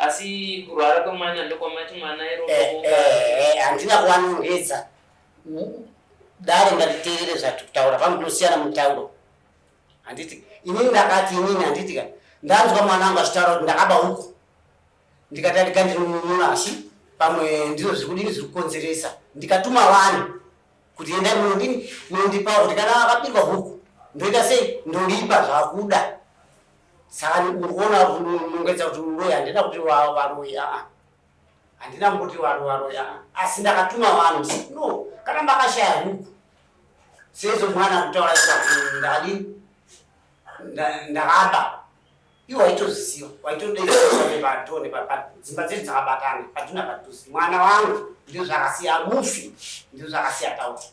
Asi kurwara kwemwana ndokwamati mwana irooka. Eh, eh, handina kuvanongedza. Dare ngatiteerere zvatiri kutaura vanodosiyana mutauro. Handiti inini ndakati inini handiti ka ndanzwa mwana wangu achitaura kuti ndakaba huku ndikati adika ndinonununa asi pamwe ndizvo zviri kudini zviri kukonzeresa ndikatuma vanhu kuti endai munodini munondipawo kuti kana vakabirwa huku ndoita sei ndoripa zvakuda Sani ukuona kunongedza kuti uroyi handina kuti varoyi aa handina kuti varoyi aa asi ndakatuma vanhu no kana makashaya huku sezvo mwana kutaura ikati ndadi ndakaba iwo waitozisiwa waitodeiaevatone dzimba dzedu dzakabatana paduna padhusi mwana wangu ndizvakasiya mufi ndizvakasiya tauti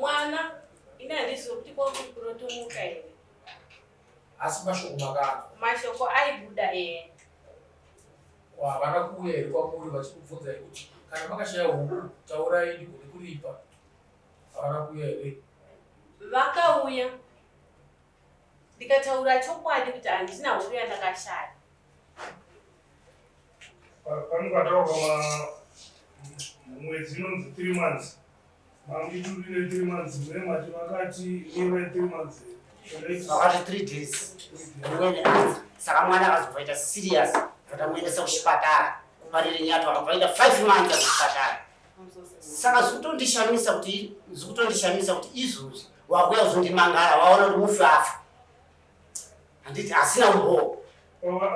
mwana ini handizive kuti kwakuri kurotomuka here asi mashoko makanzwa mashoko aibuda ee havana kuuya here kwamuri vachikubvunza kuti kana makashaya huku taurai ndigone kuripa havana kuuya here vakauya ndikataura chokwadi kuti handina huru yandakashaya panukataurwa mwedzi inonzi three months mangitudine three months mune mati vakati ive three months vakati three days saka mwana akazovaita serious vatamuendesa kuchipatara kumarire nyato akavaita five months akuchipatara saka zvikutondishamisa kuti zvikutondishamisa kuti izvozvi wakuya kuzondimangara waona kuti mufi afa handiti asina umboo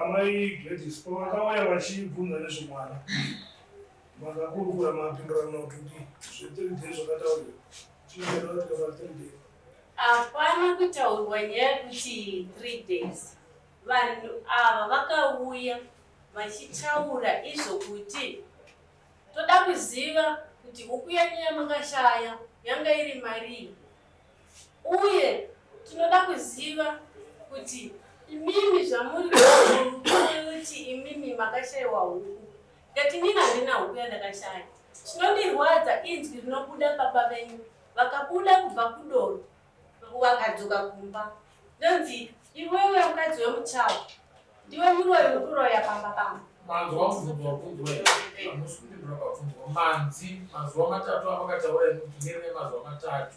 amai gladis pavakauya vachibvunza nezvemwana makakurukura mapindurano kuti zvetiri day zvakataurwa chinoeaa tikava three day hapana kutaurwa nyaya yekuti three days vanhu ava vakauya vachitaura izvo kuti Toda kuziva kuti huku yenyu yamakashaya yanga iri marii, uye tinoda kuziva kuti imimi zvamuri kuti imimi makashaiwa huku ngati nini handina huku yandakashaya. Chinondirwadza inzwi rinobuda baba venyu vakabuda kubva kudoro Wakadzoka kumba ndonzi iwewe mukadzi wemuchawa ndiwe muroyi uri kuroya pamba pamba manzwa mubvunzo wabvunzwa hamusi kundibvura pabvunzwa manzi mazuva matatu amakataura imi kuti nerine mazuva matatu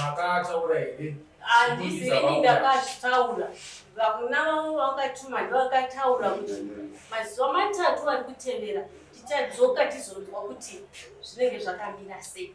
makataura here handisi ini ndakazvitaura vakuna vavo vakatuma ndovakataura kuti mazuva matatu ari kutevera tichadzoka tizonzwa kuti zvinenge zvakamira sei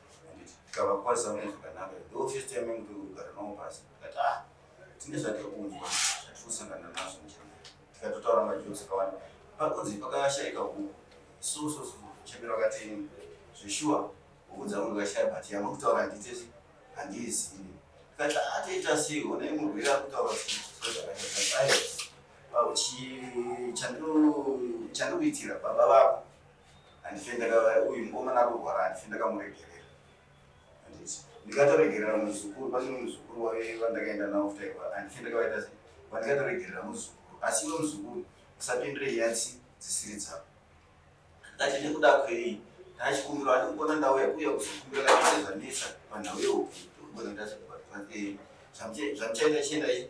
handiti tikava kwaza mune zvakanaka the office time yangu tiri kugara nawo pasi tikati ah tine zvatiri kunzwa zvatiri kusangana nazvo njaa tikatotaura majosi akawanda pakunzi pakashayika huku so so so chembera wakati zveshuwa huku dzangu ndikashaya but yamuri kutaura handitesi handiizivi tikati ah toita sei onai murwere ari kutaura zvakaiaa chandikuitira baba vako handise ndaka uyu mukomana akurwara handise ndakamuregerera handise ndikatoregerera muzukuru pane muzukuru wave vandakaenda nawo futi airwara handise ndakavaita sei vandikatoregerera muzukuru asi iwe muzukuru usapindire nyatsi dzisiri dzavo ndati nekuda kwei ndachikumbira ati kuona ndauya kuya kuzokumbira kaise zvanetsa panhau yehuku ndogona kuita zvekubatwa zvamuchaita chiendai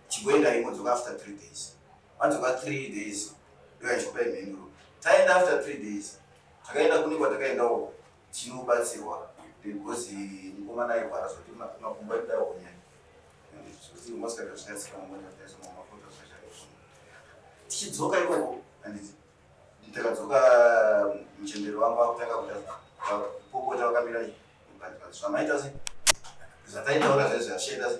chigoendai modzoka after three days Adzoka 3 days ndiyo achipa imhinduro. Taenda after 3 days takaenda kune kwatakaendawo tinobatsirwa because mukomana airwara zvoti makumbo aida honya zvekuti moskata zvichatsika mumota taiso mamafuta zvachaiona tichidzoka ikoko anditi ndakadzoka muchemberi wangu akutanga kuda kupopota vakamira zvamaita se zvataitaura zvaizvi zvachaita se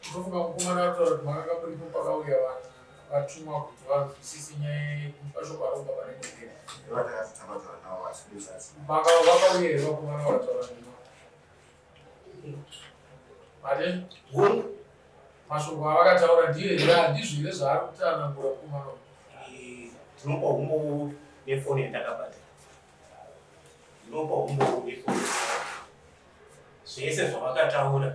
Ndinofunga mukomana ataura kuti mwana kamuripo pakauya vanhu vatumwa kuti vanzwisise nyaya yekupa shoko aromba pane mugera. Vakauya here vakomana vataura nema. Mate? Mashoko avakataura ndiyo here handizvo here zvaari kuti anangura mukomana uyu? Tinopa humbowo nefoni yandakabata. Tinopa humbowo nefoni. Zvese zvavakataura.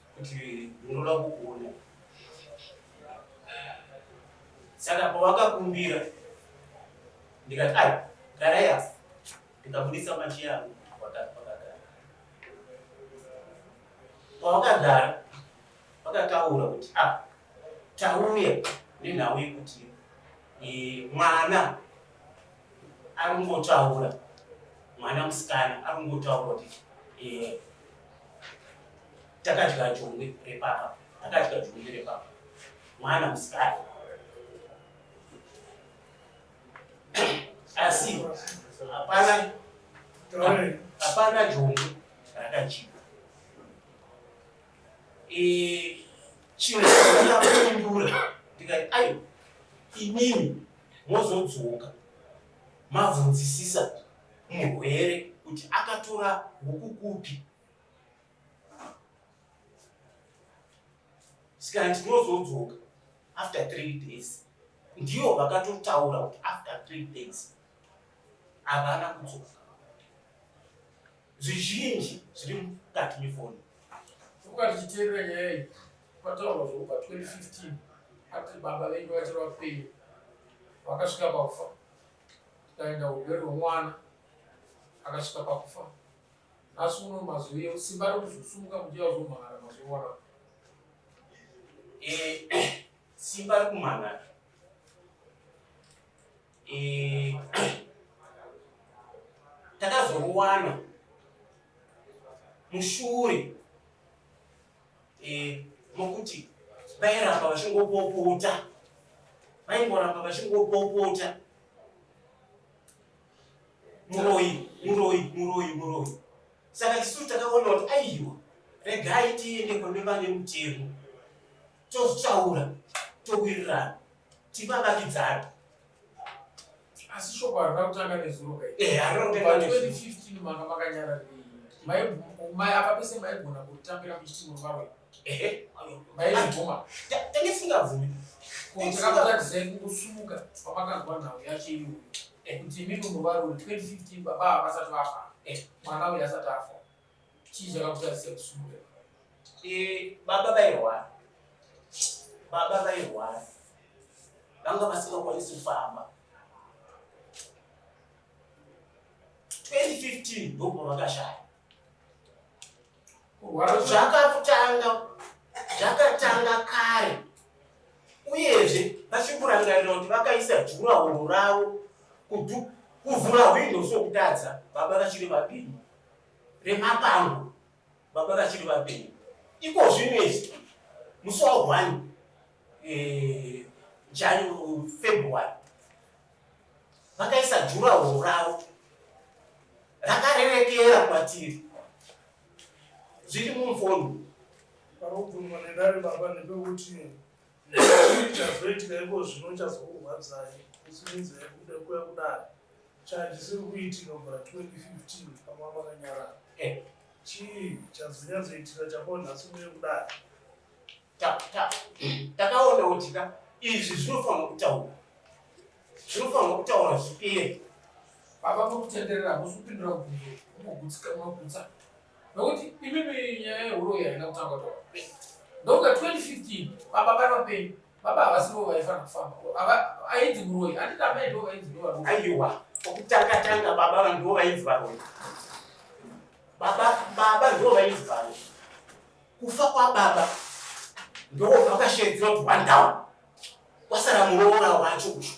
kuti ndinoda kukuona saka pawakakumbira ndikati ai garai apa ndikabudisa machi yangu wakagara pawakagara wakataura kuti a ah, tauya nenhau yekuti eh, mwana ari kungotaura mwana musikana ari kungotaura kuti eh, takadya jongwe repapa takadya jongwe repapa mwana musikana asi hapana hapana jongwe rakadyiwa eh, chimwe chakapindura ndikati ayo imimi mozodzoka mabvunzisisa murwere kuti akatora huku kupi. Saka ndinozodzoka after three days, ndiyo vakatotaura kuti after three days havana kudzoka. Zvizhinji zviri mukati mefoni ukati chiteerera nyaya iyi kwataurwa zvekupa 2015 ati baba venyu vachiri vapenyu vakasvika pakufa tikaenda hurwere hwemwana akasvika pakufa nhasi uno mazuvi simba rokuzosumuka muchiya uzomhara mazuva wana eh, simba rekumhara eh, takazoruwana mushure eh, mokuti vairamba vachingopopota vaingoramba vachingopopota muroyi muroyi muroyi muroyi saka tisu takaona kuti aiwa regai tiende kune vane mutemo totaura towirirana tivavakidzana asi shoko harina kutanga nezuro kai eh harina kutanga nezuro 2015 manga makanyara nei mai mai apa pese maigona kutambira kuchitimo varo ehe mai zvoma tenge singa vumi kutakabata zenu kusumuka pamakanzwa nhau yacho iyo eh, kuti mimi muvaro 2015 baba havasati vafa eh, mwana uyu asati afa Chii chakakutadzisa kusungura? Eh, baba vairwara. Baba vairwara. Vanga vasingakwanisi kufamba. 2015 ndipo vakashaya. Kurwara zvakatanga zvakatanga kare. Uyezve vachikurangarira kuti vakaisa jura horo ravo kuvhura hwindo sokutadza baba vachiri vapindu remapango baba vachiri vapenyu iko zvinezvi musi wa one eh, january february vakaisa jurahoro ravo rakarerekera kwatiri zviri mumfondo parokubvunzwa nedare baba nepekuti chazoitika iko zvino chazokurwadzai kusimidza yekuda kuya kudari chachisiri kuitika mvura 2015 pamwa makanyarara eh. chii chazonyatsoitika chakoo nhasi muye kudari takaona utika izvi zvinofanira kutaura zvinofanira kutaura zvipere baba vokutenderera hakusi kupindura kugutsika magutsa nokuti imimi nyaya yehuroyi haina kutanga taura ndokuda 2015 baba vari vapenyu baba havasi vo vaifana kufamba ainzi muroyi anditi amai ndo vainzi ndo varoyi aiwa okutanga tanga baba vanhu ndo vainzi varoyi baba baba ndo vainzi varoyi kufa kwababa ndo vakashedzera kuti wandawa wasara muroora wacho kushu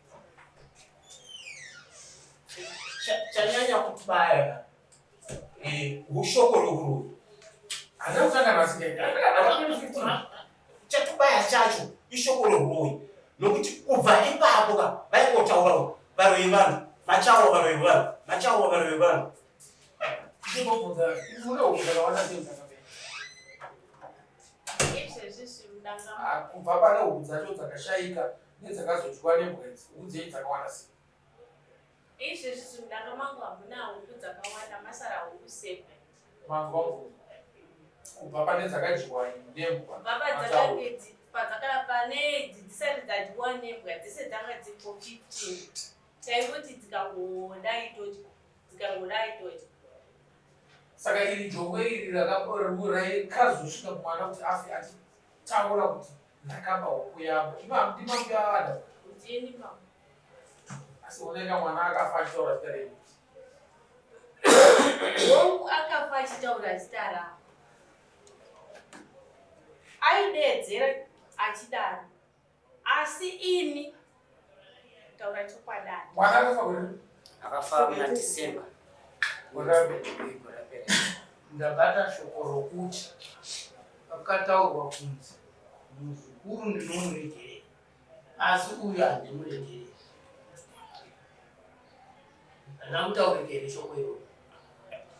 chanyanya kutibaya eh, ushoko rokuro chatibaya chacho ishoko rohuroyi nokuti kubva ipapo ka vaikotaurawo varoyi vanhu machawo varoyi vanhu machawo varoyi vanhu kubva pane hudzacho dzakashaika Nedzakazodyiwa nembwenzi, huku dzenyu dzakawanda sei? Izvi zvisi mudanga mangu hamuna huku dzakawanda, masara huku seven. Manzwa mvura. Kubva pane dzakadyiwa nembwa. Baba dzakange dzi- padzaka- pane idzi dzisati dzadyiwa nembwa dzese dzanga dziripo 15 taingoti dzikangodai todya dzikangodai todya Saka iri jongwe iri rakakora raikazosvika kumwana kuti afe ati taura kuti ndakaba huku yavo imam ndimam yaada ndini mam asi uneka mwana akafa achitaura zita renyu hongu akafa achitaura zita ravo aideedzera achidaro Asi ini taura chokwadi. Mwana akafa gore. Akafa muna December. Ndabata shoko rokuti pakataurwa kunzi muzukuru ndinomuregerei asi uyu handimuregerei. Handina kutaurika here shoko iroro?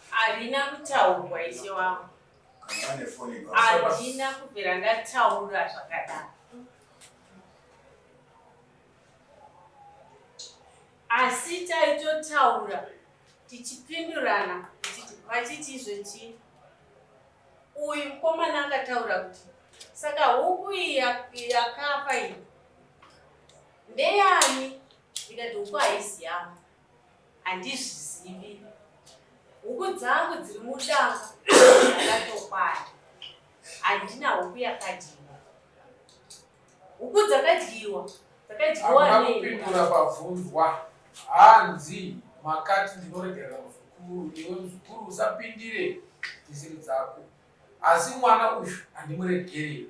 Harina kutaurwa ishe wangu. Adina kubvira ndataura zvakadaro. Asi taitotaura tichipindurana vachiti izvo chii? Uyu mukomana akataura kuti saka huku iyi yakafa iyi ndeyani? Ndikati huku haisi yangu. Handizvizivi. Huku dzangu dziri mudanga dzakatokwana. Handina huku yakadyiwa. Huku dzakadyiwa. Dzakadyiwa Hamuna nei? kupindura pabvunzwa. Hanzi makati ndinoregerera muzukuru, iwe muzukuru usapindire dzisiri dzako. Asi mwana uyu handimuregereri.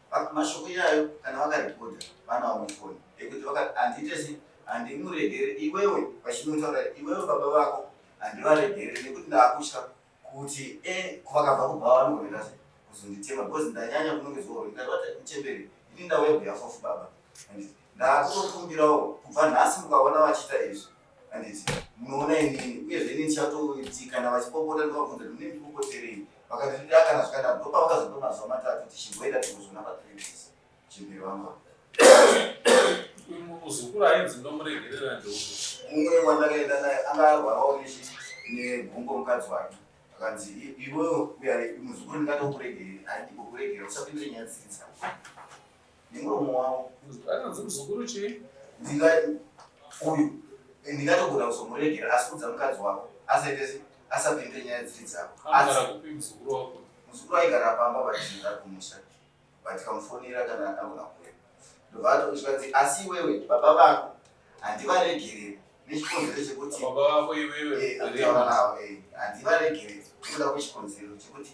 mashoko iyayo kana vakarekodha vanawo mufoni ekuti vakati handiite sei handimuregere iwewe vachinotaura iwewe baba vako handivaregere nekuti ndakutya kuti e eh, vakabva kubva vanogorera sei kuzonditema because ndanyanya kunongedzwa uri ndakabata uchemberi ini ndauya kuyafofu baba Ndakutokumbirawo kubva nhasi mukaona vachiita izvi handiti munoona inini uyezve inini ndichatoiti kana vachipopota ndovabvunza kuti mune ndipopoterei vakati ndida kana zvakanaka ndopavakazopa mazuva matatu tichimboenda tikuzona patripis chimbiri vamba muzukuru ainzi ndomuregerera ndeuku mumwe wandakaenda naye anga arwarawo nechi negumbo mukadzi wake akanzi iwewe muzukuru ndingatokuregerei handimbokuregerera usapindire nyaya dzidza nemuromo wavo anonzi muzukuru chii ndinga uyu eh, ndingatogona kuzomuregera asi kudza mukadzi wako asaite asapinde nyaya dziri dzako muzukuru aigara pamba vachinza kumusha vatikamufonera kana agona kuya ndobva atochikanzi asi iwewe baba vako handivaregere nechikonzero chekutiaavo eh, eh, handivaregere ndoda kuchikonzero chekuti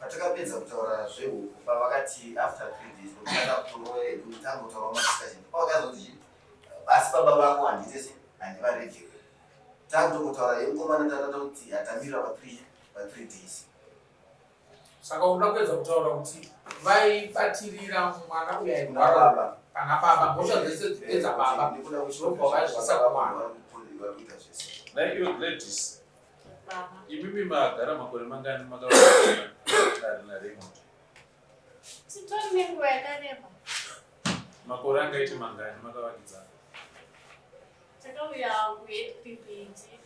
Patakapedza kutaura zvehuku pavakati after three days ndokuenda kutoro edu tangotaura madiscussion pavakazoti chii asi baba vako handitese handivaregere takutongotaura yemukomana tatata kuti atamira pa three pa three days saka unoda kuedza kutaura kuti vaibatirira mwana uya airwara kana baba mhosva dzese dzipedza baba ndikuda kuchirobva vaizvisa kumwana like you ladies Imimi magara makore mangani makaona Raymond? Sitori nenguva yakareba. Makore angaite mangani makavakidzana? Takauya kuHead Pimpinji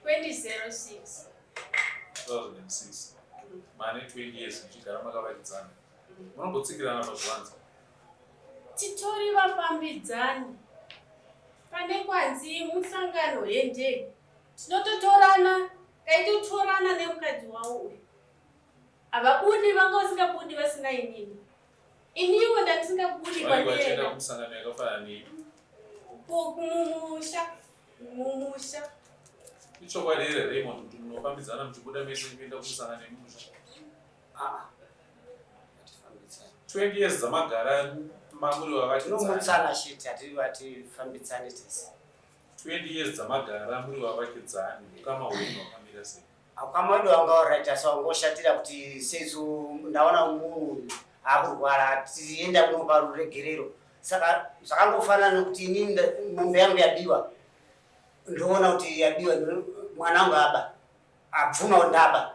2006. 2006. Mane 20 years muchigara makavakidzana. Munombotsikirana pazvivanze. Titori vafambidzani. Pane kwanzi musangano hendei. Tinototorana kaitotorana nemukadzi wawo uyu. Havabundi vanga vasingabudi vasina inini. Iniwo ndandisingabudi kwandiyenda. Musangano yakafanana nei? Kumusha. Mumusha. Ichokwadi here Raymond kuti munofambidzana muchibuda mese kuenda kumusangano yemumusha? Ah, ngatifambitsane. 20 years dzamagara mamuri vavakidzani Tinomutsana shit hati hatifambidzane tese. 20 years dzamagara muri vavakidzani ukama hwenyu hwakamira sei Ukama wedu wanga alright asi wangoshatira kuti sesu ndaona munhu akurwara tienda kunopa ruregerero. Saka zvakangofanana nekuti inini nda- mombe yangu yabiwa. Ndoona kuti yabiwa ndo- mwana wangu aba. abvumawo ndaba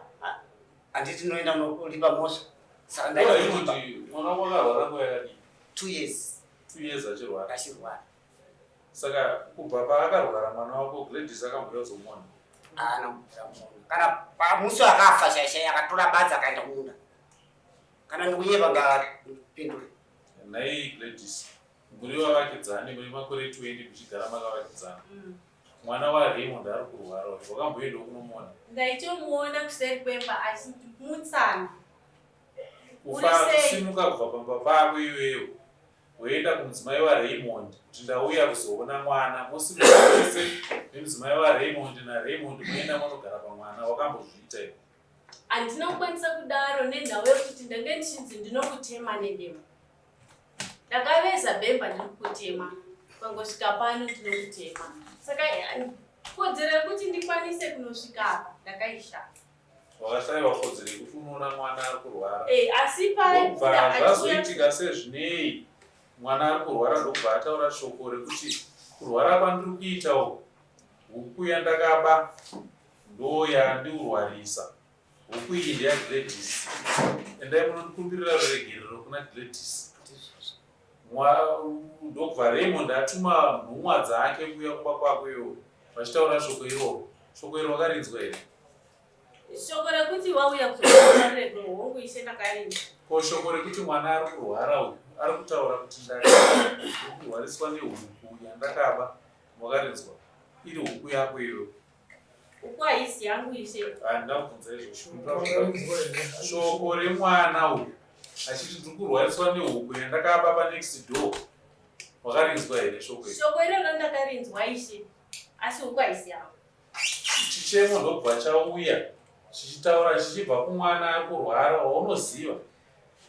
handiti ndinoenda kunolipa mhosva saka ndailipa mwana wako akarwara nguva yakadii two years two years achirwara achirwara saka kubva paakarwara mwana wako gladys akamboya zomona haana kubvira mona kana pamusi akafa shaishai akatora badzi akaenda kumunda kana ndikunyeba ngapindure nhai gladys muri vavakidzani muri makore 20 muchigara makavakidzana mm. Mwana wa Raymond ari kurwara uyu. Wakamboenda kunomuona? Ndaitomuona kuseri kwemba achimutsana. Kufara kusimuka kubva pamba pako iwewe. Woenda kumudzimai wa Raymond kuti ndauya kuzoona mwana. Mosimuka wese nemudzimai wa Raymond na Raymond moenda monogara pamwana. Wakambozviita iwe. Handina kukwanisa kudaro nenhau yekuti ndange ndichinzi ndinokutema nedemo. ndakaveza bhemba ndiri kutema pangosvika pano ndino kutema saka kodzero yekuti ndikwanise kunosvika apa ndakaishaya wakashaiwa kodzero yekuti unoona mwana ari kurwara eh, asi pazvazoitika sezvinei mwana ari kurwara ndokubva ataura shoko rekuti kurwara kwandiri kuita uku huku yandakaba ndoyandiurwarisa Huku iyi ndeya Gladys. Endai munondikumbirira ruregerero kuna Gladys. Ndokubva Raymond atuma nhumwa dzake kuuya kumba kwako iwo vachitaura shoko iroro. Shoko iro wakarinzwa here? Shoko rekuti wauya kuzoaredo hongu ishe ndakarinda. Ko shoko rekuti mwana ari kurwara uyu ari kutaura kuti ndakurwariswa nehuku yandakaba wakarinzwa iri huku yako iyo Uku haisi yangu ishe. Handina kubvunza izvozvo. Shoko remwana uyu achiti ndiri kurwariswa nehuku yandakaba panext door. Wakarinzwa here shoko iri? Shoko iroro ndakarinzwa ishe. Asi huku haisi yangu. Chichemo ndobva chauya chichitaura chichibva kumwana ari kurwara waunoziva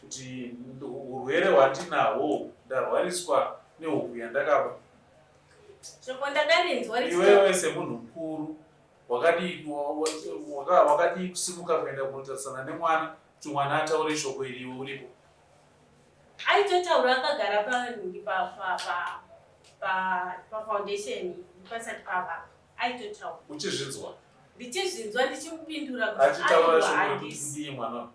kuti urwere hwandinahwo ndarwariswa nehuku yandakaba Shoko ndakarinzwa richiti iwewe semunhu mukuru wakadii waka- wakadii kusimuka kuenda kunotarisana nemwana kuti mwana ataure shoko iri iwe uripo aitotaura akagara panhingi pa pa pa pa pa foundation pasati pava aitotaura uchizvinzwa ndichizvinzwa ndichimupindura kuti achitaura aiwa shoko rekuti handisi kudii mwana uyu?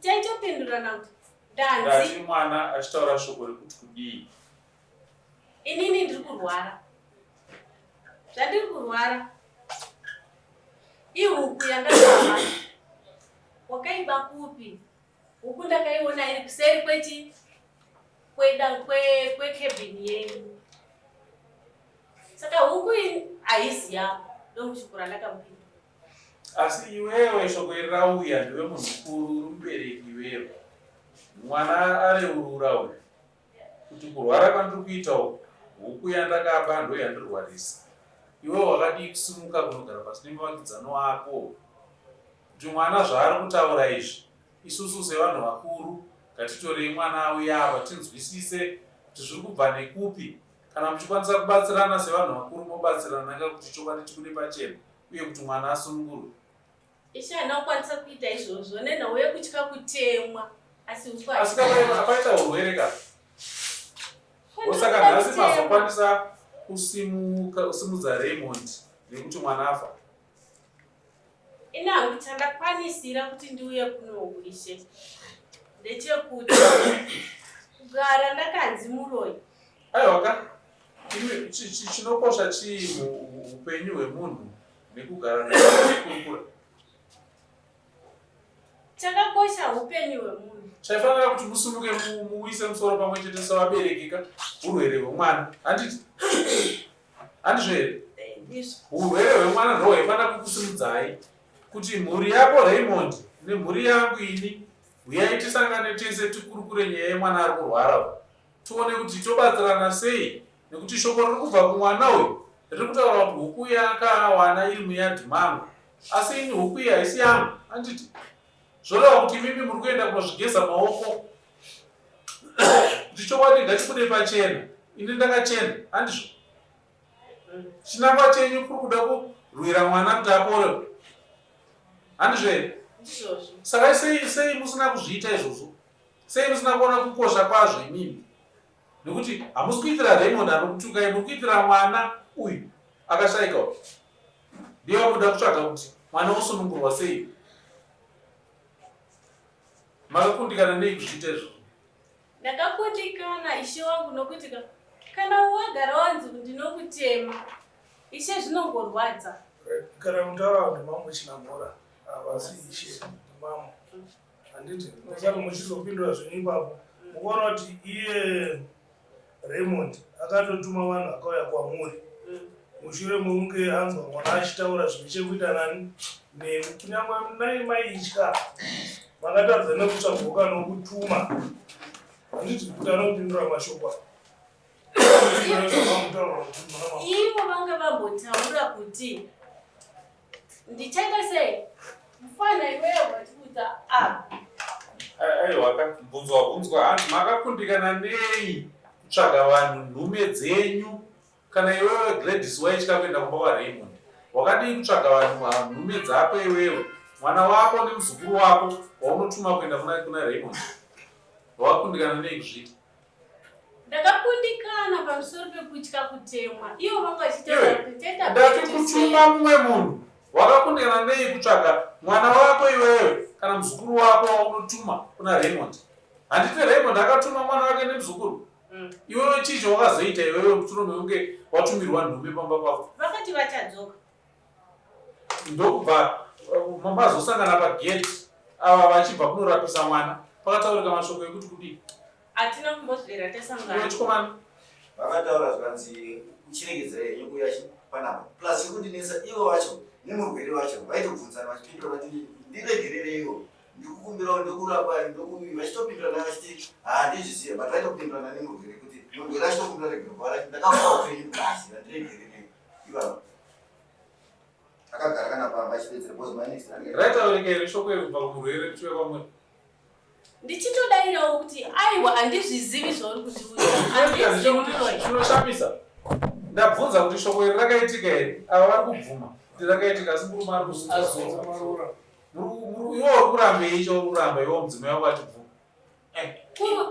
taitopindurana kuti danzi mwana achitaura shoko rekuti kudii inini ndiri kurwara zvandiri kurwara ihuku yandakava wakaiba kupi huku ndakaiona iri kuseri kwechi kwekebhini yenyu saka huku haisi yako ndomushukura ndakamupinda asi iwewe shoko iri rauya ndiwe munhu mukuru uri mubereki iwewe mwana areurura uyu kuti kurwara kwandiri kuita uku huku yandakaba ndo yandirwarisa iwewe wakadii kusimuka kunogara pasi nemuvakidzano wako kuti mwana zvaari kutaura izvi isusu sevanhu vakuru ngatitorei mwana auya ava tinzwisise kuti zviri kubva nekupi Kana muchikwanisa kubatsirana sevanhu vakuru mobatsirana ka kuti chokwadi chibude pachena uye kuti mwana asungurwe. Ishe haana kukwanisa kuita izvozvo nenhau yekutya kutemwa asi uswa. Asi kapaita urwere ka osaka nhasi mazokwanisa kusimuka usimudza Raymond nekuti mwana afa. ini hangu chandakwanisira kuti ndiuye kunouishe ndechekuti kugara ndakanzi muroyi aiwaka chinokosha chii muupenyu hwemunhu nekugara nakurukura chakakosha upenyu hwemunhu chaifanira kuti musunduke muise musoro pamwe chete sevaberekeka urwere hwemwana handiti handizvo here urwere hwemwana ndo hwaifanira kukusimudzai kuti mhuri yako raymond nemhuri yangu ini huyai tisangane tese tikurukure nyaya yemwana ari kurwara tione kuti tobatsirana sei nekuti shoko riri kubva kumwana uyu riri kutaura kuti huku yakawana iri muyadhi mangu asi ini huku iyi haisi yangu handiti zvoreva kuti imimi muri kuenda kunozvigeza maoko kuti chokwadi ngachibude pachena ini ndakachena handizvo chinangwa chenyu kuri kuda kurwira mwana kuti apore handizvo here saka sei sei musina kuzviita izvozvo sei musina kuona kukosha kwazvo imimi nekuti hamusi kuitira raymond anokutukai muri kuitira mwana uyu akashaika uyu ndiye wakuda kutsvaga kuti mwana wosunungurwa sei Makakundikana nei kuzviita izvozvo? Ndakakundikana ishe wangu nokuti kana wagara wanzi ndinokutema ishe zvinongorwadza. Kana mutaura kuti mambo chinamora havasi ishe mambo handiti musati muchizopindura zvenyu ipapo mukuona kuti iye Raymond akatotuma vanhu akauya kwamuri mushure mekunge anzwa mwana achitaura zvine chekuita nani nemi kunyangwe nai maitya makatadza nekutsvagoka nokutuma handiti kuti anopindura mashoko ivo vanga vambotaura kuti Ndichengese mfana iwewe watikudza apa. Aiwa ka bvunzwa bvunzwa hanzi makakundikana nei kutsvaga vanhu nhume dzenyu kana iwewe Gladys waitya kuenda kumba kwaRaymond wakadii kutsvaga vanhu nhume dzako iwewe mwana wako nemuzukuru wako waunotuma kuenda kuna Raymond wakundikana nei kuzviita ndakakundikana pamusoro pekutya kutemwa ivo vanga vachitaura kuti teta ndati kutuma mumwe munhu wakakundikana nei kutsvaga mwana wako iwewe kana muzukuru wako waunotuma kuna raymond handiti raymond akatuma mwana wake nemuzukuru mm. iwewe chii chawakazoita iwewe muturume unge watumirwa nhume pamba pavo vakati vachadzoka ndokubva uh, mazosangana pagate ava vachibva kunorapisa mwana pakataurika mashoko ekuti kudii hatina kumbozvera tasanganachikomana vakataura zvikanzi uchiregedzera yenyu kuya panapa plus ikundinetsa ivo vacho nemurwere vacho vaitobvunzana vachipindura vati ndiregerereiwo ndikukumbirawo ndokurapa ndokuvi vachitopindurana vachiti handizvisiye but vaitopindurana nemurwere kuti murwere achitokumbira regerwa ndakavaa upenyu basi vandiregererei raitaurikeri shoko iri kubva kumurwere kuchive kwamwe ndichitodairawo kuti aiwa handizvizivi zvauri kutiuinoshamisa ndabvunza kuti shoko iri rakaitika here ava vari kubvuma kuti rakaitika asi murume ari kuziiwo uri kurambei cho uri kuramba iwo mudzimu yavo vachibvuma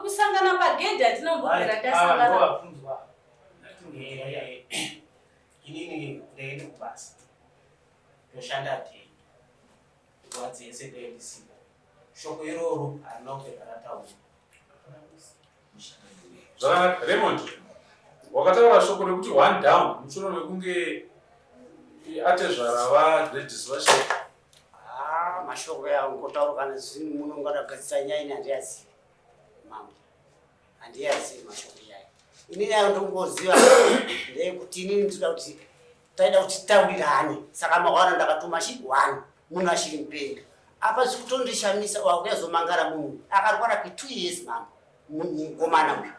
kusangana pagedhi atinombogara tasanganaabvunzwa inini ndaende kubasa ndoshanda tei nguva dzese ndoendisipo shoko iroro harina kupedza rataura zvakanaka remond wakataura shoko rekuti one down musoro mekunge atezvara varedis vashe Ah, mashoko yangu kotaura kana zvinhu muno ngadagadzira nyaya ini handiyazivi mambo handiyazivi mashoko nyaya ini nayo ndongoziva ndeyekuti inini ndinoda kuti taida kuti taurirane saka mawana ndakatuma chi one munhu achiri mupenga apa zvikutondishamisa wakuyazomangara munhu akarwara kwe two years mambo mukomana uyu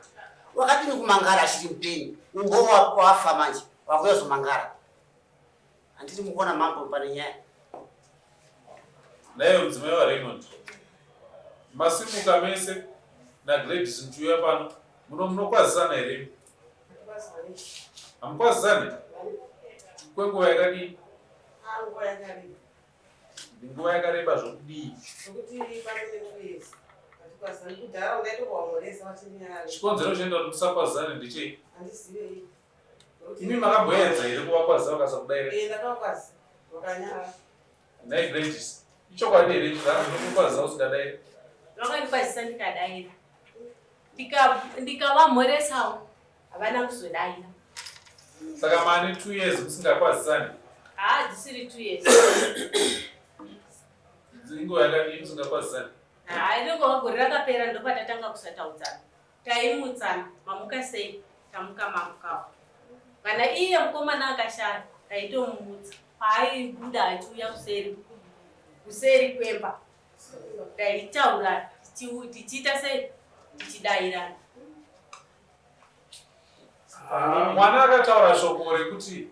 wakadini kumangara achiri mupenyu umbowa wafa manje wakuyazomangara Handiti mukuona mambo pane nyaya. Naye mudzimai waRaymond. Masimuka mese naGladys muchiuya pano. Muno munokwazisana here? Hamukwazisane? Kwenguva yakadii? Nguva yakareba zvokudii? Chikonzero chinoita kuti musakwazisane ndechei? Imi makabwedza here kuvakwaza vakasakudaira? Eh, ndakakwaza. Vakanyara. Nhai Gladys, ichokwadi here kuti kana zvokukwaza usingadaira? Vakandikwazisa ndikadaira. Ndikavamhoresawo havana kuzodaira. Saka mane two years musingakwazisani? Haa, ah, dzisiri two years. Inguva yakadii musingakwazisani? Haa, ah, inenge gore rakapera ndopatatanga kusataudzana. Taimutsa mamuka sei tamuka mamukawo. Kana iye mukomana akashaya taitomumutsa paaibuda achiuya kuseri kuseri kwemba taitaura tichiita sei tichidairana. Ah, mwana akataura shoko rekuti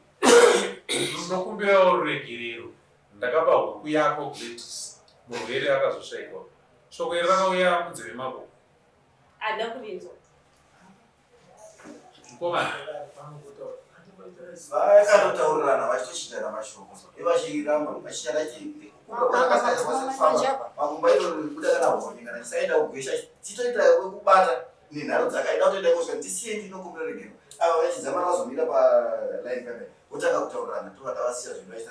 ndinokumbirawo ruregerero ndakapa huku yako Gladys murwere akazoshaikwa shoko iri rakauya munzeve mako Ada kuvinzwa. Mkomana. Vaya kanotaurirana vachitoshindana mashoko. Ivachiramba vachishanda chii? Makumba ino kuda kana honi kana chisaenda kugwesha chitoita wekubata nenharo dzakaenda kutoenda kosha ndisiye ndinokumbira regero. Ava vachizama vazomira pa line kana kutanga kutaurirana tova tavasiya zvinhu vachita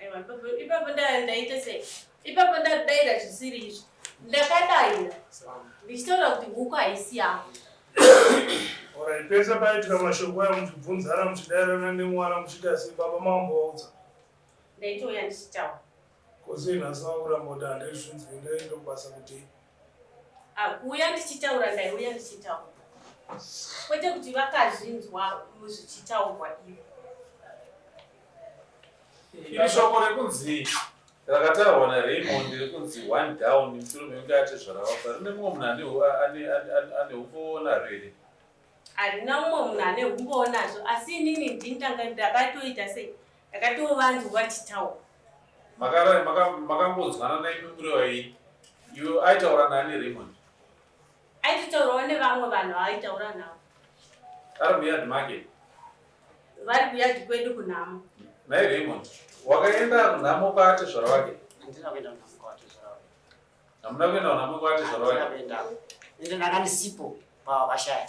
Aiwa, ipapo- ipapo nda- ndaita sei ipapo ndadaira zvisiri izvi ndakadaira ndichitaura kuti huku haisi yangu Alright, pese paitika mashoko aya muchibvunzana muchidairana nemwana muchiti asi baba mambo vaudza ndaitouya ndichitaura kozi nhasi vakuramba kuti handaizvinzwi ndaenda kubasa kuti akuuya ndichitaura ndaiuya ndichitaura kwete kuti vakazvinzwa muzvichitaurwa ivo iri shoko rekunzi rakataurwa naraymond rekunzi one down mushure mekunge atezvaravafa rine mumwe munhu ane umbowo naro here harina mumwe munhu ane umbowo nazvo asi inini ndini ndakatoita sei Ndakatiwo vanzi wachitaura. Makara makangodzwana maka naimi kureva yini? Iwe aitaura nani Raymond? Aitotaurawo nevamwe vanhu aitaura navo. Ari muyard make? Vari kuyard kwedu kunhamo. Nai Raymond, wakaenda kunhamo kwaate zvara wake? Handina kuenda kunhamo kwaate zvara wake. Hamuna kuenda kunhamo kwaate zvara wake? Handina kuenda. Ende ndanga ndisipo pavakashaya.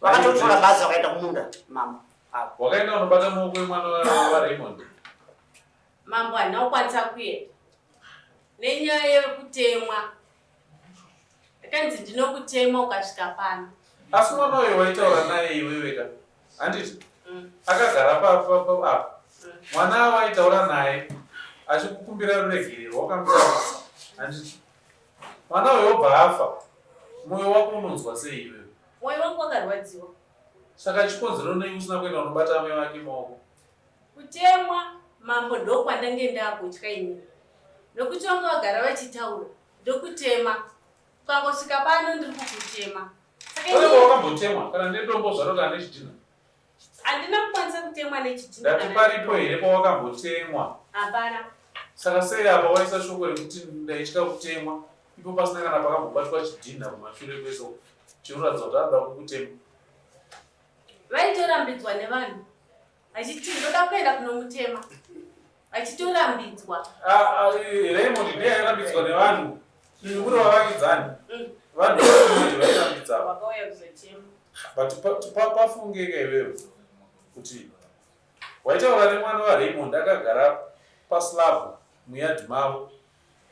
vakatotora bhazi vakaenda kumunda mambo avo wakaenda unobata maoko emwana waraymond mambo handina kukwanisa kuenda nenyaya yekutemwa akanzi ndinokutema ukasvika pano asi mwana uyo waitaura naye iwewe ka handiti mm. akagara papo mm. mwana avo aitaura naye achikukumbira ruregerero wakamutaura handiti mwana uyo obva afa mwoyo wako unonzwa sei iwewe Moyo wangu wakarwadziwa. Saka chikonzero nei usina kuenda unobata amai vake maoko? Kutemwa mambo ndokwandange ndakutya ini. Nokuti vanga vagara vachitaura ndokutema. Kwangosvika pano ndiri kukutema. Saka wakambotemwa kana nedombo zvarota nezvidhina. Handina kukwanisa kutemwa nechidhina. Ndati paripo here pawakambotemwa? Hapana. Saka sei apa waisa shoko rekuti ndaitya kutemwa ipo pasina kana pakambobatwa chidhina kumashure kweso chinoratidza kuti anoda kukutemwa? Vaitorambidzwa nevanhu vachiti ndoda kuenda kunomutema. achitorambidzwa Raymond ndiye airambidzwa nevanhu kuri vavakidzani mm. vanhu vairambidzwa but pafungeka iwewe kuti waitaura nemwana waraymond akagara paslab muyard mavo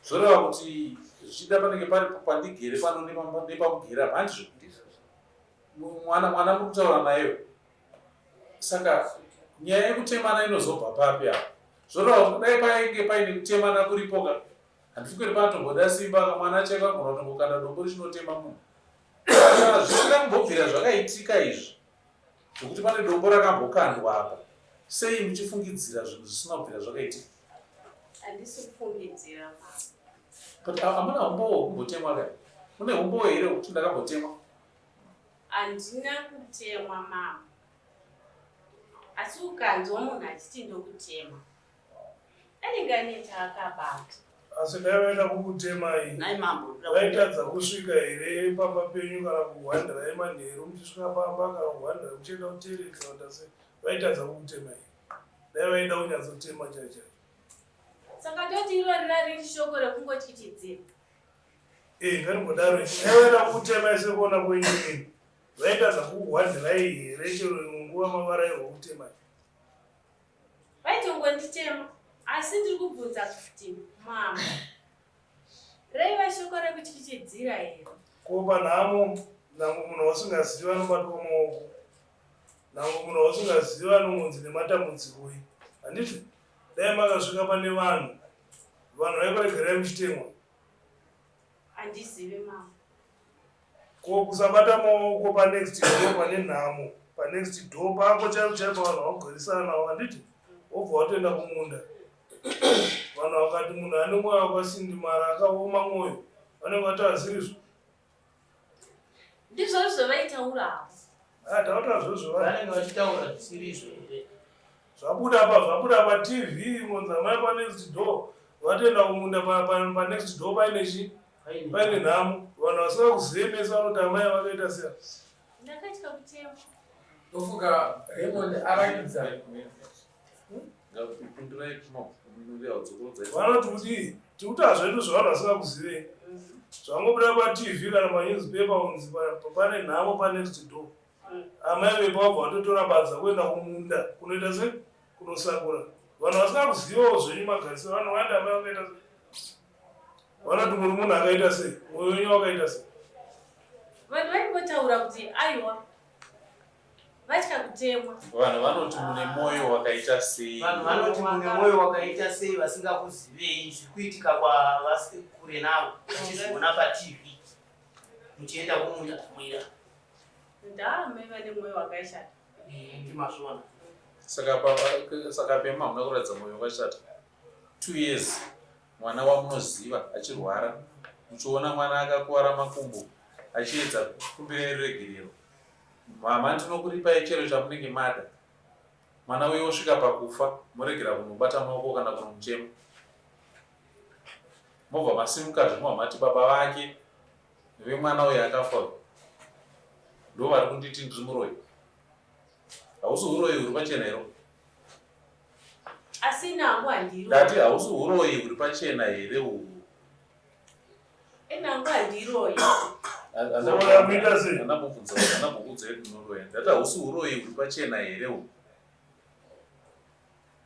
zvoreva kuti zvichida panenge pari pandigere pano nepamugera handizvo mwana mwana muri kutaura nayewe saka nyaya yekutemana inozobva papi apa zvoreva kudai painge paine kutemana kuripoka handifikiri panotomboda simba ka mwana chaivo agona kutongokanda dombo richinotema munhu zvisina kumbobvira zvakaitika izvi zvekuti pane dombo rakambokandwa apa sei muchifungidzira zvinhu zvisina kubvira zvakaitika but amuna umbowo kumbotemwa ka mune umbowo here wekuti ndakambotemwa Handina kutemwa mama. Asi ukanzwa munhu achiti ndokutemwa. Anenge ane chaakabata. Asi dai vaida kukutemai. Nai mambo. Vaitadza kusvika here pamba penyu kana kuhwandirai manheru muchisvika pamba kana kuhwandirai muchienda kutereka vatase vaitadza kukutemai. Dai vaida kunyatsotema chacha. Saka toti irori rari shoko rekungotyitidzira. Eh, ngarimbodaro ichienda kutema ese kuona koinini vaita zakukuhwandirai here chero imwe nguva mavarairwa kutema vaitongonditema asi ndiri kubvunza kuti mama raiva shoko rekutyityidzira here ko panhamo nango munhu wausingaziva anobatwa maoko nango munhu wausingaziva anongonzi nematambudzikoi handiti dai makasvika pane vanhu vanhu vaikuregerai muchitemwa Andizive mama. Ko kusabata maoko pa next door pane nhamo. Pa next door pako chaipo chaipo vanhu vakugarisana navo handiti? Wobva watoenda kumunda. Vanhu vakati munhu ane mwoyo wakasindimara akaoma mwoyo. Vanenge vatazirizvo. Ndizvo zvavaitaura avo. Ah, taura zvozvo vanenge vachitaura zvisirizvo here? Zvabuda pa zvabuda pa TV ngonza mai pa next door vatoenda kumunda pa pa, pa next door paine chi Paine- paine nhamo vanhu vasika kuzive mese vanoti amai vakaita sei. Ndakatya kutema. ndofunga raymond arakidza vanoti kuti tikutaa zvedu zvavanhu vasingakuzivei zvangobuda patv kana panewspaper unzi pane nhamo panext door amai vepa wabva watotora badza kuenda kumunda kunoita se kunosakura vanhu vasingakuzivawo zvenyu magarisiro vanhu vanda amai vakaita se vanoti muri munhu akaita sei mwoyo wenyu wakaita sei vanhu vaingotaura kuti aiwa vatya kutemwa. Vanhu vanoti mune mwoyo wakaita sei? Vanhu vanoti mune mwoyo wakaita sei vasingakuzivei zviri kuitika kwavasi kure navo vachizviona patv muchienda kumunda mwira ndame vane mwoyo wakaishata ndimazvona saka pema hamuna kuratidza mwoyo wakashata two years mwana wamunoziva achirwara muchiona mwana akakuvara makumbo achiedza kukumbira regerero Mama ndinokuripai chero chamunenge mada. Mwana uyo osvika pakufa moregera kunobata maoko kana kunomuchema. Mobva masimuka zvimwa mati baba vake vemwana uyo akafa uyo ndo vari kunditi ndiri muroyi. Hausi uroyi huri pachena here? Asi nangu handiro. Ndati hausi uroyi huri pachena here uhu? Enangu handiroyi. Uroya muita sei? Anabvunza kuti anabvunza kuti unoroya. Ndati hausi uroyi uri pachena here uhu?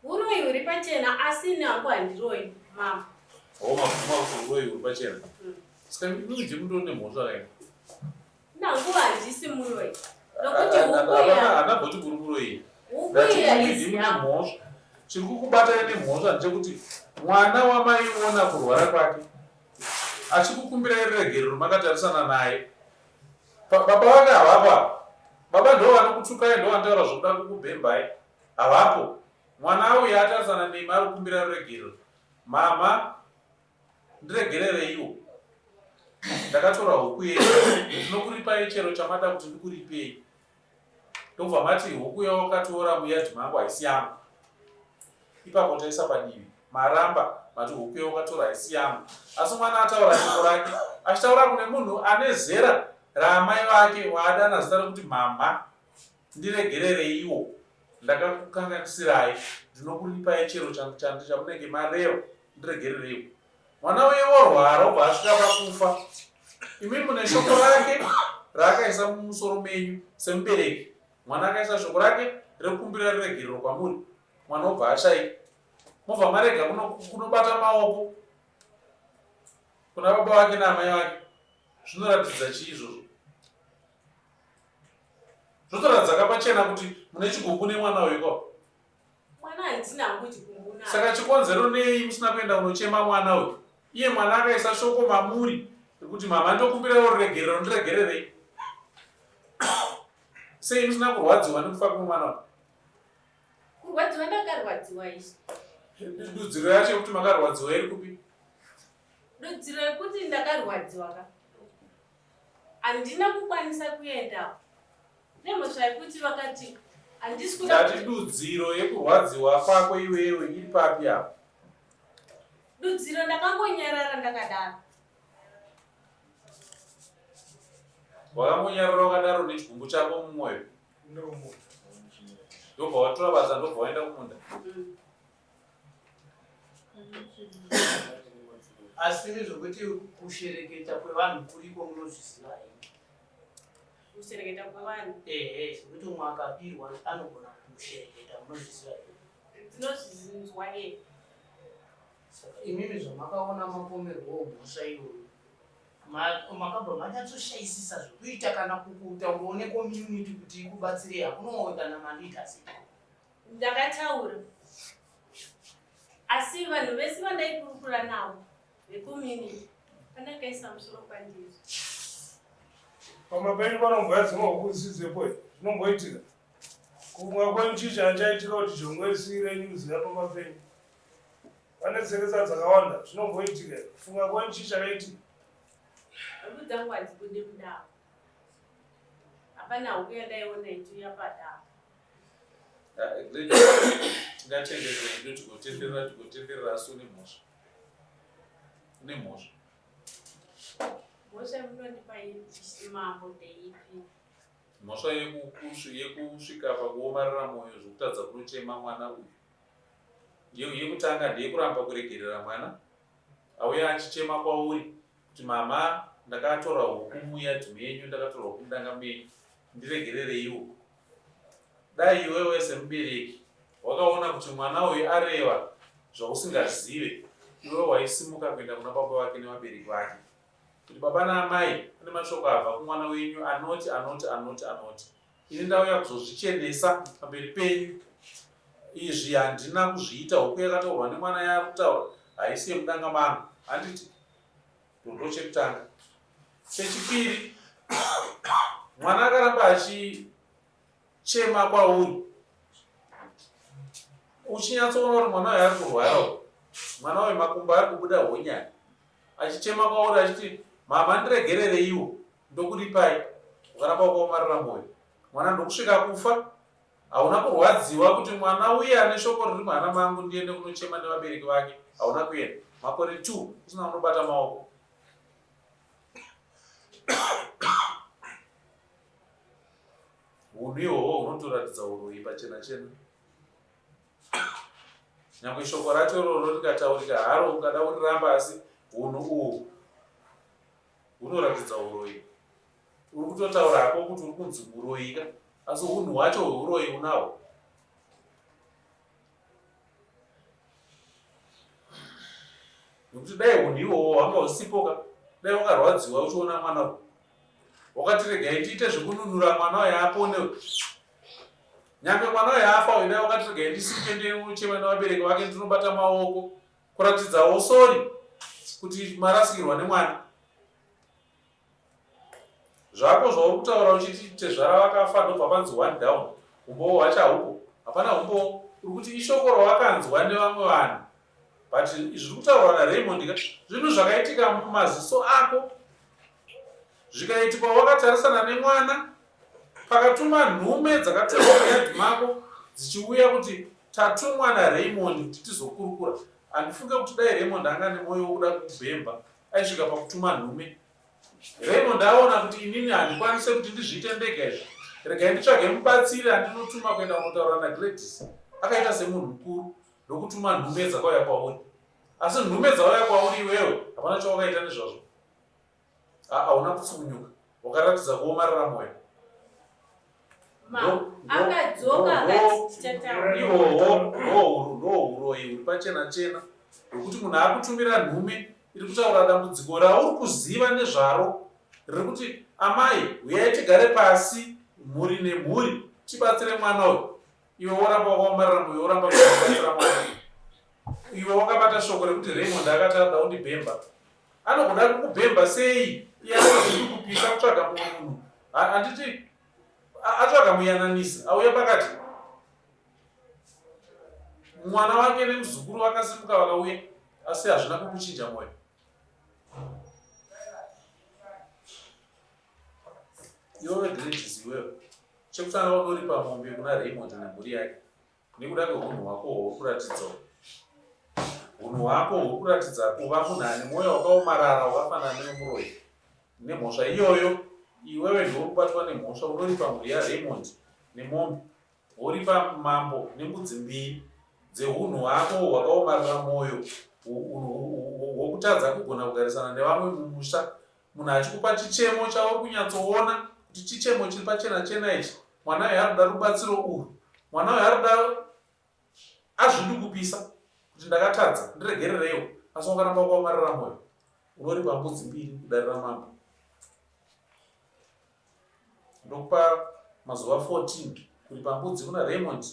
Uroyi huri pachena asi enangu handiroyi mama. Homa kuma kuti uroyi huri pachena. Saka mimi uje mundone mhosva kaini. Nanguva handisi muroyi nokuti ukuyaana bhoti kuri kuroyi mhosva chiri kukubatana nemhosva ndechekuti mwana wamaiona kurwara kwake achikukumbirai ruregerero makatarisana naye baba vake havapo baba ndo vanokutukai ndo vanotaura zvokuda kukubhembai havapo mwana auya atarisana nemi ari kukumbira ruregerero mama Ndiregerereiwo. Ndakatora huku yenyu. Ndinokuripai chero chamada kuti ndikuripei. Ndobva mati huku yawakatoora muyadhi mangu haisi yangu. Ipapo taisa padivi. Maramba mati huku yawakatora haisi yangu. Asi mwana ataura shoko rake. Achitaura kune munhu ane zera raamai vake waadana zita rekuti mhamha. Ndiregerereiwo, ndakakukanganisirai, ndinokuripai chero changu chandi chamunenge mareva, ndiregerereiwo. Mwana uye worwara obva asvika pakufa, imi mune shoko rake raakaisa mumusoro menyu semubereki. Mwana akaisa shoko rake rekumbira riregerero kwamuri, mwana obva ashai, mobva marega kunobata maoko kuna baba vake naamai vake. Zvinoratidza chii izvozvo? zvotoratidza kapachena kuti mune chigumbu nemwana uyu ko mwana handina hangu chigumbu na saka chikonzero nei musina kuenda kunochema mwana uyu iye mwana akaisa shoko mamuri rekuti mama ndokumbirawo ruregerero ndiregererei sei musina kurwadziwa nekufa kumwe mwana uyu kurwadziwa ndakarwadziwa izvi dudziro yacho yekuti makarwadziwa iri kupi dudziro yekuti ndakarwadziwa ka handina kukwanisa kuendawo nemhosva yekuti vakati handisi kuda ndati dudziro yekurwadziwa kwako iwewe iri papi apo dudziro ndakangonyarara ndakadaro wakangonyarara wakadaro nechigumbu chako mumwoyo ndobva watora basa ndobva waenda kumunda mm. asi nezvekuti kushereketa kwevanhu kuriko munozviziva here kushereketa kwevanhu ehe zvekuti umwe akabirwa anogona kushereketa munozviziva here tinozvizinzwa e saka imimi zvamakaona mapomerwo mhosva iyoyo makabva manyatsoshaisisa zvekuita kana kukuta uone community kuti ikubatsirei hakunowe kana maleaders Ndakataura asi vanhu vese vandaikurukura navo vekumini pandakaisa musoro kwandiri. Pamba penyu panomboya dzimwe huku dzisidzepo zvinomboitika kumwa kwenjicha achaitika kuti jongwe risiire nyuzi yapamba penyu pane tseresa dzakawanda zvinomboitika kufunga kwenjicha kaitika huku dzangu hadzibude mudako hapana huku yandaiona ituya padako tingatendedzei kuti gotenderera tigotenderera asi une mhosva une mhosva mhosva munondipa mambo ndeipi mhosva yekusvika pakuomarira mwoyo zvekutadza kunochema mwana uyu yekutanga ndeyekuramba kuregerera mwana auya achichema kwauri kuti mama ndakatora huku muya dzi menyu ndakatora huku mudanga menyu ndiregerereiwo Dai iwewe semubereki wakaona kuti mwana uyu areva zvausingazive, iwe waisimuka kuenda kuna baba vake nevabereki vake kuti baba naamai, pane mashoko abva kumwana wenyu anoti anoti anoti anoti, ini ndauya kuzozvichenesa pamberi penyu. Izvi handina kuzviita, huku yakataurwa nemwana yakutaura haisi yemudanga mangu handiti Rudo chekutanga. Chechipiri, mwana akaramba achichema kwauri uchinyatsoona kuti mwana uyo ari kurwara mwana uyo makumbo ari kubuda honyani achichema kwauri achiti mama ndiregerereiwo ndokuripai ukaramba ukaomarira mwoyo mwana ndokusvika kufa Hauna kurwadziwa kuti mwana uye ane shoko riri muhana mangu ndiende kunochema nevabereki vake? Hauna kuenda makore two usina unobata maoko. Hunhu ihwohwo hunotoratidza uroyi pachena chena. Nyangwe shoko racho iroro rikataurika haro ungada kuriramba asi hunhu uhwu Unoratidza uroyi. Uri kutotaura hako kuti uri kunzi muroyika asi unhu hwacho hweuroyi unahwo. Nokuti dai unhu iwowo hwanga husipoka dai wakarwadziwa uchiona mwana uyu. Wakati regai ndiite zvekununura mwana uyu apone uyu. Nyange mwana uyu afa uyu dai wakati regai ndisimuke ndichema nevabereki vake ndinobata maoko. kuratidzawo sori kuti marasikirwa nemwana zvako zvauri kutaura uchiti tezvara vakafa ndobva panzi one down umbowo hwacho haupo hapana umbowo uri kuti ishoko rawakanzwa nevamwe vanhu but zviri kutaurwa naraymond ka zvinhu zvakaitika mumaziso ako zvikaitikwa wakatarisana nemwana Pakatuma nhume dzakatevera muyadhi mako dzichiuya kuti tatumwa naRaymond kuti tizokurukura. Handifunge kuti dai Raymond anga nemoyo wokuda kukubhemba aisvika pakutuma nhume. Raymond aona kuti inini handikwanise kuti ndizviite ndega izvi. Regai nditsvage mubatsiri andinotuma kuenda kunotaura naGladys. Akaita semunhu mukuru ndokutuma nhume dzakauya kwauri. Asi nhume dzauya kwauri iwewe hapana chawakaita nezvazvo. Haa hauna kutsukunyuka. Wakaratidza kuomarara moyo. Ma, akadzoka akati tichataura. Ihoho, ndohuru, ndohuroyi huri pachena chena. Hwekuti munhu akutumira nhume iri kutaura dambudziko rauri kuziva nezvaro riri kuti amai huyai tigare pasi mhuri nemhuri tibatsire mwana uyu iwe woramba wakaomarira muyo woramba kubatsira mwana iwe wakabata shoko rekuti raymond akati ada undibhemba anogona kukubhemba sei iye anozivi kupisa kutsvaga mumwe munhu handiti atsvaga muyananisi auya pakati mwana wake nemuzukuru vakasimuka vakauya asi hazvina kukuchinja mwoyo iwe vegrejisi iwewe chekutanga unoripa mombe kuna raymond nemhuri yake nekuda kweunhu hwako hwokuratidza unhu hwako hwokuratidza kuva munhu ane mwoyo wakaomarara wakafanana newemuroyi nemhosva iyoyo iwewe ndiwo kubatwa nemhosva unoripa mhuri yaraymond nemombe woripa mambo nembudzi mbiri dzeunhu hwako hwakaomarara mwoyo hwokutadza kugona kugarisana nevamwe mumusha Munhu achikupa chichemo chauri kunyatsoona kuti chichemo chiri pachena chena ichi, mwana uyu arikuda rubatsiro urwu, mwana uyu arikuda azvidi kupisa kuti ndakatadza ndiregerereiwo asi wakaramba kuamarira moyo unoripa mbudzi mbiri kudarira mambo ndokupa mazuva 14 kuri pambudzi kuna raymond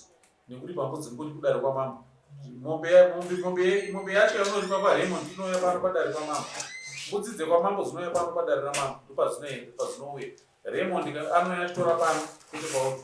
nekuri pambudzi nguri kudare kwamambo mombe yacho yaunoripa kwaraymond inouya pano padare kwamambo mbudzi dzekwamambo dzinouya pano padare ramambo ndopadzinoenda padzinouya raymond anouya achitora pano kuti paoto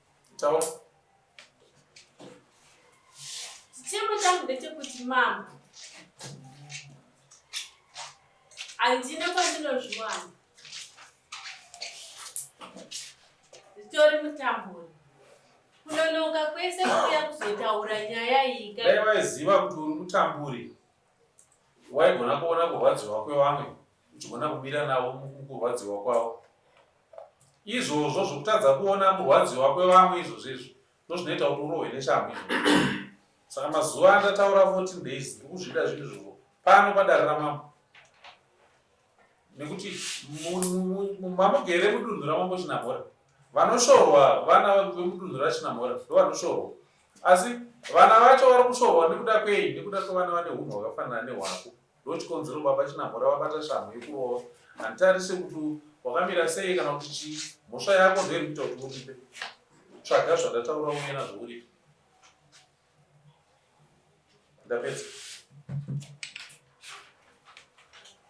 Taura. Chichemo changu ndechekuti mama handina kwandinozviwana zvitori mutamburi kunonoka kwese kuuya kuzotaura nyaya iyi kana vaiziva kuti uri mutamburi waigona kuona kurwadziwa kwevamwe uchigona kumira navo mukurwadziwa kwavo izvozvo zvokutadza kuona murwadziwa kwevamwe izvozvo izvo ndozvinoita kuti urohwe neshamhu izvo saka mazuva andataura 14 days ndikuzvida zvinhu zvovo pano padare ramambo nekuti mamugere mudunhu ramambo chinamhora vanoshorwa vana vemudunhu rachinamhora ndovanoshorwa asi vana vacho vari kushorwa nekuda kwei nekuda kwevana vane hunhu hwakafanana nehwako ndo chikonzero baba chinamhora vabata shamhu yekurova handitarise kuti wakamira sei kana kuti chii mhosva yako ndoiri kuita kuti uripe tsvaga zvandataura uye nazvo uripe ndapedza